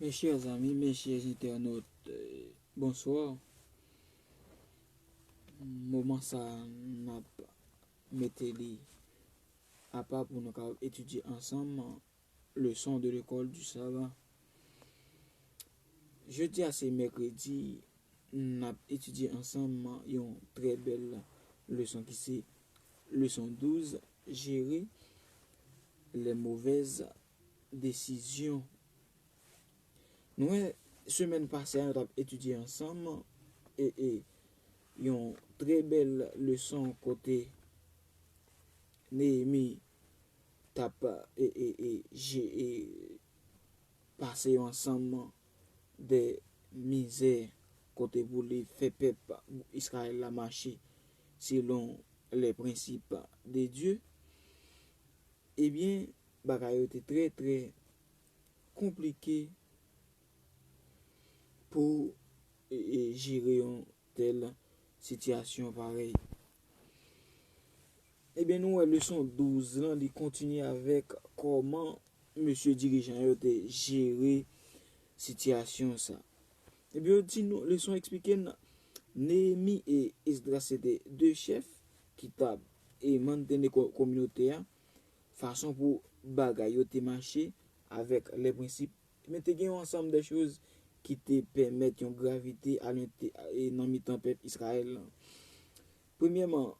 Mes chers amis, mes chers internautes, euh, bonsoir. Moman sa m ap mete li apa pou nou ka etidye ansanm Leson de lekòl du savan Jodi a se mèkredi n ap etidye ansanm yon trè bèl leson ki se leson 12 jere lè movèz desizyon Nou wè semèn pase a nou t ap etidye ansanm yon trè bèl leson kote Neyemi tap pase yon ansanm de mizè kote pou li fè pèp Israël la mache selon les principes de Dieu, ebyen bagay yo te trè trè konplike pou jere yon tèl sitiyasyon parèy. Ebyen nou wè leson 12 lan li kontinye avèk kòman mesye dirijan yo te jere sitiyasyon sa. Ebyen yo di nou, leson eksplike n, Neyemi e Esdras se te 2 chèf ki t ap manteni kominote a, fason pou bagay yo te mache avèk lè prensip Men te gen yon ansanm de choz ki te pèmèt yon gravite a nan mitan pèp Israël lan. Premyèman,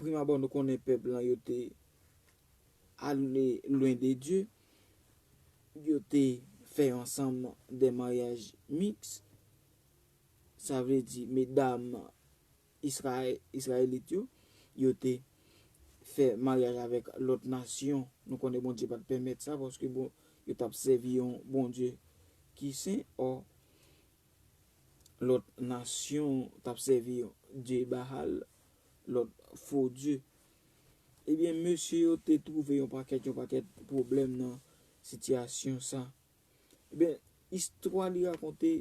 primabò nou konnen pèp lan yo te ale lwen de Dye, yo te fè yon ansanm de maryaj miks, sa vle di medam Israelit yo, yo te fè maryaj avèk lòt nasyon. Nou konnen Bondye pa t pèmèt sa paske yo t ap sèvi yon Bondye ki sen. Ò, lòt nasyon t ap sèvi dye Bahal, lòt fo dye. Ebyen, mesye yo te twouve yon pakèt, yon pakèt pwoblèm nan sitiyasyon sa. Ebyen, istwa li rakonte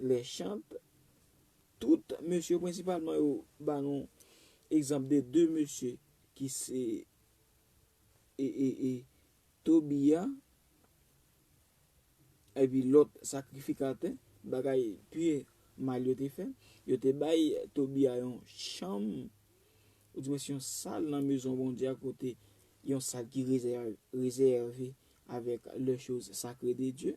Lèchant, Tout mesye prensipalman yo ba nou egzanp de 2 mesye ki se e Tobia epi lòt sakrifikatè, bagay pi mal yo te fè. Yo te bay Tobia yon chanm, oudimwens yon sal nan mezon Bondye a kote yon sal ki rezève avèk lè choz sakre de Dye.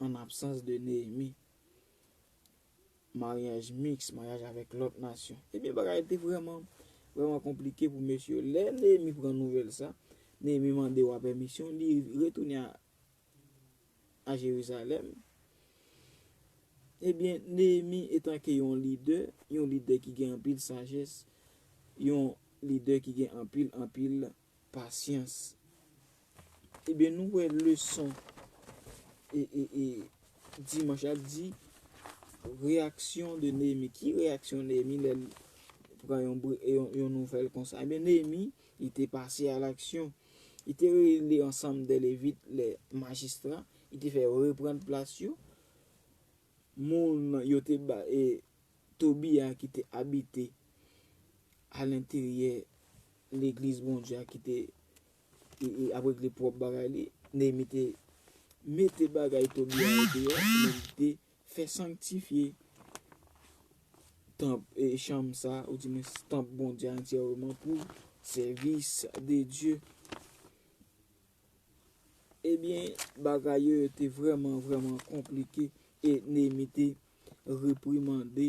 An absans de Neyemi, maryaj miks, maryaj avèk lòt nasyon, ebyen bagay yo te vrèman, vrèman konplike pou mesye yo. Lè Neyemi pran nouvèl sa, Neyemi mande wa pèmisyon, li retounen a Jerizalèm. Ebyen, Neyemi etanke yon lidè, yon lidè ki gen anpil sajès, yon lidè ki gen anpil, anpil Pasyans. Ebyen nou wè leson e e e dimanch ap di reyaksyon de Neyemi. Ki reyaksyon Neyemi lè l pran yon bri e yon yon nouvèl konsa? Ebyen Neyemi li te pase a laksyon. Li te reyini ansanm de levit le majistra, li te fè yo reprann plas yo. moun yo te ba e Tobi a ki te abite alenteryè Legliz Bondye a ki te ap regle pwòp bagay li, Neyemi te mete bagay Tobi a yo deyò men li te fè sanktifye tanp e chanm sa a, oudimens tanp Bondye a antyèreman pou sèvis de Dye. Ebyen, bagay yo yo te vrèman vrèman konplike e Neyemi te reprimande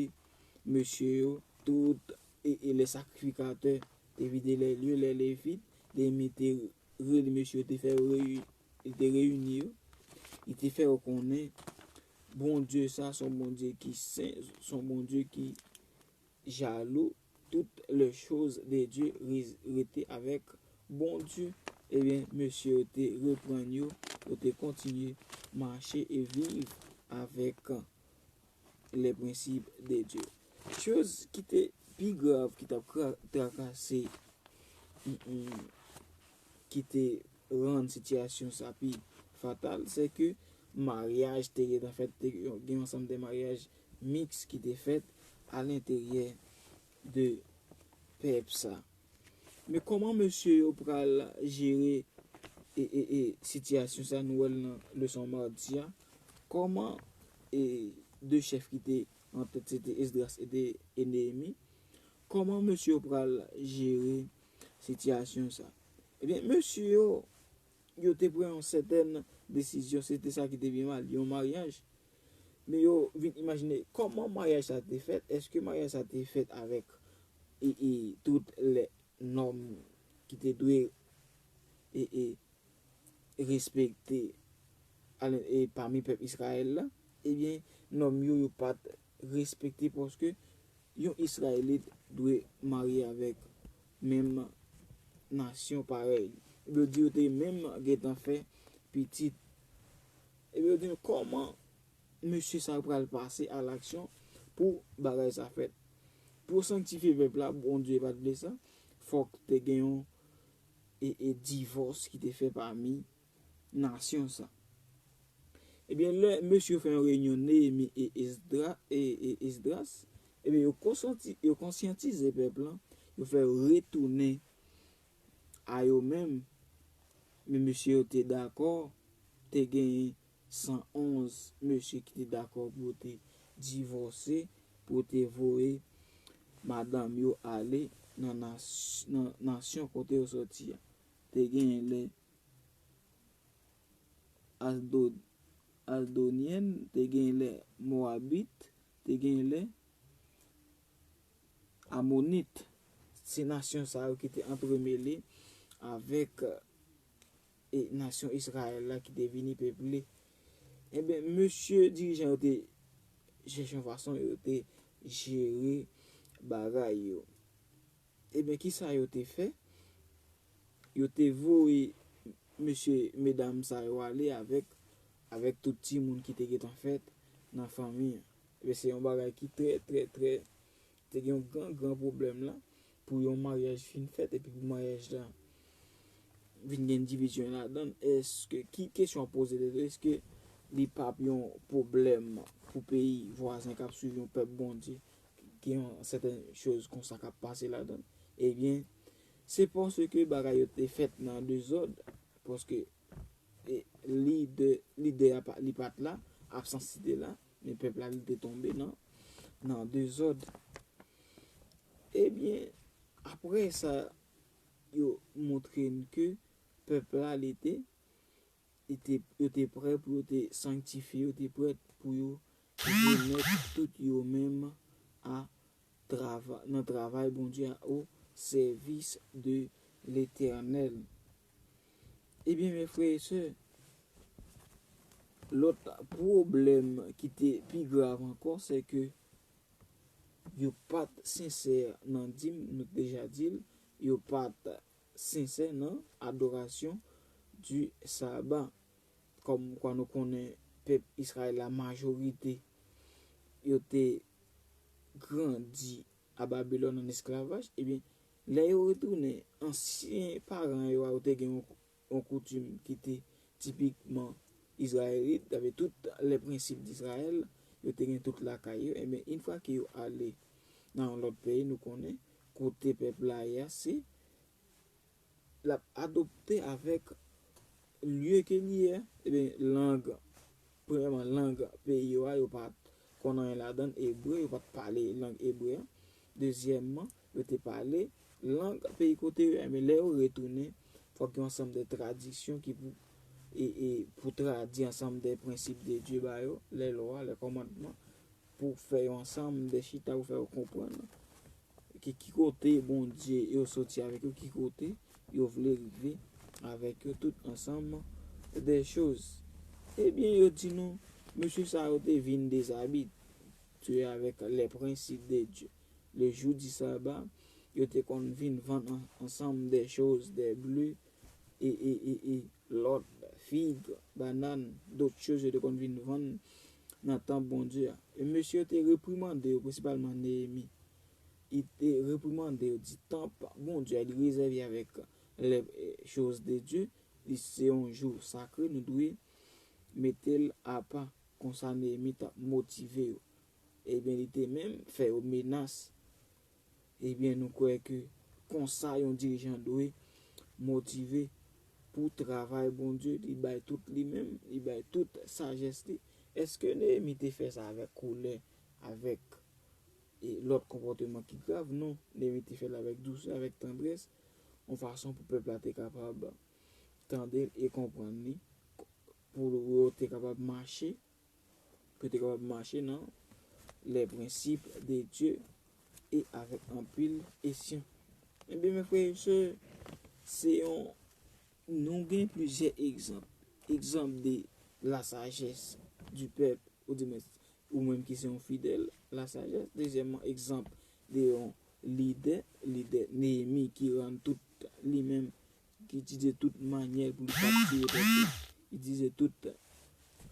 mesye yo tout e lè sakrifikatè te vide lè lye, lè Levit, Neyemi te rele mesye yo te fè yo reyini, li te reyini yo, li te fè yo konnen Bondye sa a se yon Bondye ki sen, se yon Bondye ki. Jaloux tout le chose de Dieu riz rete avek bon Dieu ebyen mesye yo te reprann yo yo te kontinye mache e viv avek le principe de Dieu chose ki te pi grav ki tap trakase ki te rann sitiyasyon sa pi fatal se ke maryaj te gentan fèt te gen yon ansanm de maryaj mix ki te fèt a l'interyè de pep sa. Men koman mesye yo pral jere e sitiyasyon sa nou wèl nan leson mardi a, koman e 2 chèf ki te an tèt se te Esdras e te e Neyemi, koman mesye yo pral jere sitiyasyon sa. Ebyen mesye yo yo te pran yon sètèn desizyon se te sa ki te pi mal, yon maryaj Men yo vin imajine kòman maryaj sa te fèt, èske maryaj sa te fèt avèk tout lè nòm ki te dwe respekte pami pèp Israël la, ebyen nòm yo yo pat respekte paske yon Israëlit dwe marye avèk menm nasyon parèy li. Yo di yo te menm gentan fè pitit Epi yo gen kòman mesye sa yo pral pase a laksyon pou bagay sa fèt. Pou yo sanktifye vèv la, Bondye pa t vle sa, fòk te gen yon divòs ki te fè pami nasyon sa. Ebyen lè mesye yo fè yon reyinyon Neyemi e Esdras, ebyen yo konsyantize pèp lan, yo fè yo retounen a yo menm, men mesye yo te dakò, te genyen 111 mesye ki te dakò pou yo te divòse, pou yo te voye madanm yo ale nan nasyon kote yo soti a. Te genyen lè Asdodyen, te genyen lè Mowabit, te genyen lè Amonit, se nasyon sa yo ki te antremele avèk nasyon Izrayèl la ki te vini peple. Enben, mesye dirijan yo te chèche yon fason yo te jere bagay yo. Enben, ki sa yo te fè? Yo te voye mesye, medam sa yo ale avèk tout timoun ki te gentan fèt nan fanmi an. Ebyen se yon bagay ki trè trè trè te gen yon gran gran pwoblèm la pou yon maryaj fin fèt epi pou maryaj la vin gen divizyon ladan l èske ki kesyon ap poze tèt ou èske li p ap yon pwoblèm pou peyi vwazen k ap swiv yon pèp Bondye gen yon sèten choz konsa k ap pase ladan l ebyen se paske bagay yo te fèt nan dezòd paske Lidè a li pat la, absans li te la, men pèp la li te tonbe nan nan dezòd. Ebyen, apre sa yo montre n ke pèp la li te yo te prè pou yo te sanktifye, yo te prè pou yo remèt tout yo menm a nan travay Bondye a o sèvis de Letènèl. Ebyen men frè e sè, lòt pwoblèm ki te pi grav ankò se ke yo pat sensè nan dim, nou t deja dil, yo pat sensè nan adorasyon di Saba. Kòm kwa nou konnen pèp Israyèl la majorite yo te grandi A Babilòn an esklavaj, ebyen, lè yo retounen, ansyen paran yo a yo te gen yon koutim ki te tipikman izrayelit, sa vle tout les principes d'Israël, yo te gen tout lakay yo, ebyen, in fwa ke yo ale nan yon lòt peyi, nou konnen kote pèp la ye a se l ap adopte avèk lye ke li ye, ebyen lang, premyèman lang peyi yo a yo pa t konn anyen ladan l, ebre, yo pa t pale lang ebre a, dezyèmman yo te pale lang peyi kote yo, ebyen lè yo retounen fòk gen yon ansanm de tradisyon ki pou e, e pou tradiy ansanm de prensip de Dye ba yo, lè lwa, lè kòmandman. pou w fè yo ansanm de chita pou fè yo konprann ki ki kote Bondye yo soti avèk yo, ki kote yo vle rive avèk yo tout ansanm de choz. Ebyen yo di nou mesye sa yo te vin dezabi te avèk lè prensip de Dye. Le jou di saba yo te konn vin vann ansanm de choz de ble e e e e. Lòt, fig, banann, dot choz yo te konn vin vann nan tanp Bondye a. E mesye yo te reprimande yo, prensipalman Neyemi. Li te reprimande yo, di, Tanp Bondye a, li rezève avèk lè choz de Dye, li se yon jou sakre, nou dwe mete l apa. Konsa Neyemi t ap motive yo. Ebyen, li te menm fè yo menas. Ebyen nou kwè ke konsa yon dirijan dwe motive pou travay Bondye, li bay tout li menm, li bay tout sajès li. Eske Neyemi te fè sa avèk kolè, avèk lòt konpòteman ki grav? Non, Neyemi te fè l avèk dousè, avèk tandrès, yon fason pou pèp la te kapab tande l e konprann li, pou yo te kapab mache Yo te kapab mache nan les principes de Dieu e avèk anpil esyon. Ebyen mè frè e sè, se yon nou gen plizyè egzanp. Egzanp de la sajès di pèp ou di mwen ou menm ki se yon fidèl la sajès. Dezyèman egzanp de yon lidè, lidè Neyemi ki rann tout li menm Li itilize tout manyè pou li kaptive pèp la. Li itilize tout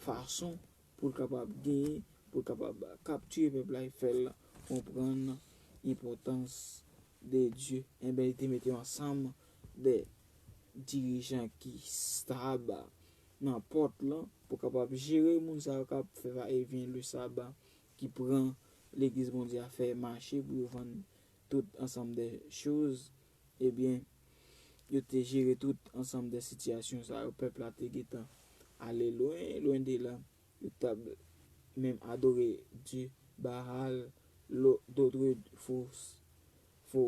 fason pou l kapab genyen, pou l kapab kaptive pèp la e fè l konprann enpòtans de Dye. Enben, li te mete yon ansanm de dirijan ki stab nan pòt lan pou kapab jere moun sa yo k ap fè va e vyen le saba, ki pran legliz Bondye a fè mache pou yo vann tout ansanm de choz Ebyen, yo te jere tout ansanm de sitiyasyon sa yo, pèp la te gentan ale lwen, lwen de la, yo t ap menm adore dye Baal, dotre fo fo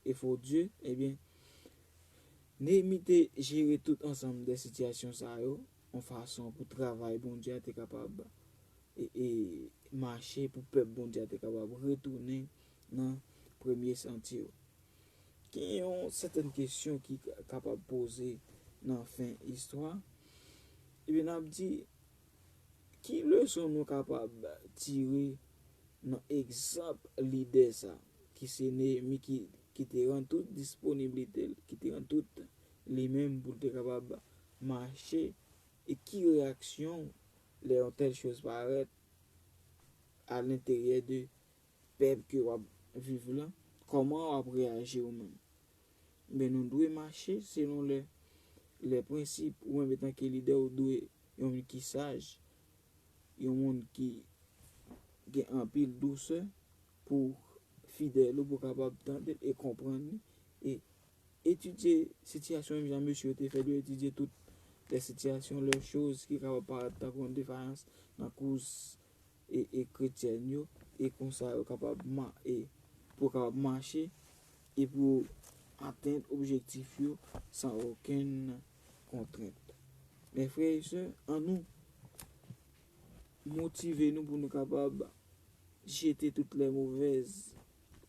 e fo dye. Ebyen, Neyemi te jere tout ansanm de sitiyasyon sa yo. yon fason pou travay Bondye a te kapab mache, pou pèp Bondye a te kapab retounen nan premye santye yo. Gen yon sèten kesyon ki kapab poze nan fen istwa, epi n ap di, ki leson nou kapab tire nan egzanp lidè sa a, ki se Neyemi, ki te rann tout disponiblite l, ki te rann tout li menm pou l te kapab mache e ki reyaksyon w lè yon tèl choz parèt a lenteryè de pèp ke w ap viv lan, kòman w ap reyaji ou menm? Enben nou dwe mache selon lè lè prensip ou menm etan ke lidè ou dwe yon moun ki saj, yon moun ki gen anpil dousè pou fidèl ou pou kapab tande l e konprann li e Etidye sitiyasyon menm jan mesye yo te fè dwe etidye tout lè sitiyasyon, lè choz ki kapab parèt tankou yon defayans nan koz kretyèn yo e konsa yo kapab pou yo kapab mache e pou yo atenn objektif yo san okenn kontrent. Mè frè e sè, an nou motive nou pou nou kapab jete tout lè movèz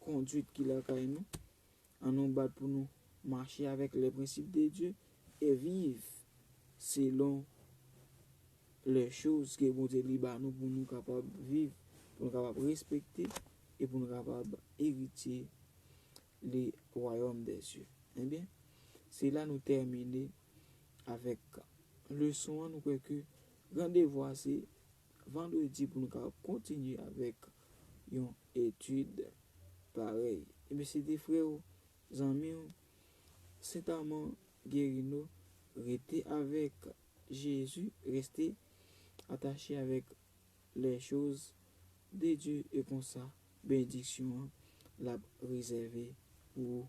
konduit ki lakay nou An nou bat pou nou mache avèk les principes de Dieu et viv selon les choses ke Bondye li ba nou pou nou kapab viv, pou nou kapab respekte e pou nou kapab eritye le royaume des cieux. Ebyen, se la nou tèmine avèk leson an, nou kwè ke gran devwa se Vandredi pou nou ka kontinye avèk yon etid parèy. Ebyen se te frè w, zanmi w, Sent Aman Guerino, rete avèk Jezi, reste atache avèk les choses de Dieu e konsa benediksyon an l ap rezève pou ou.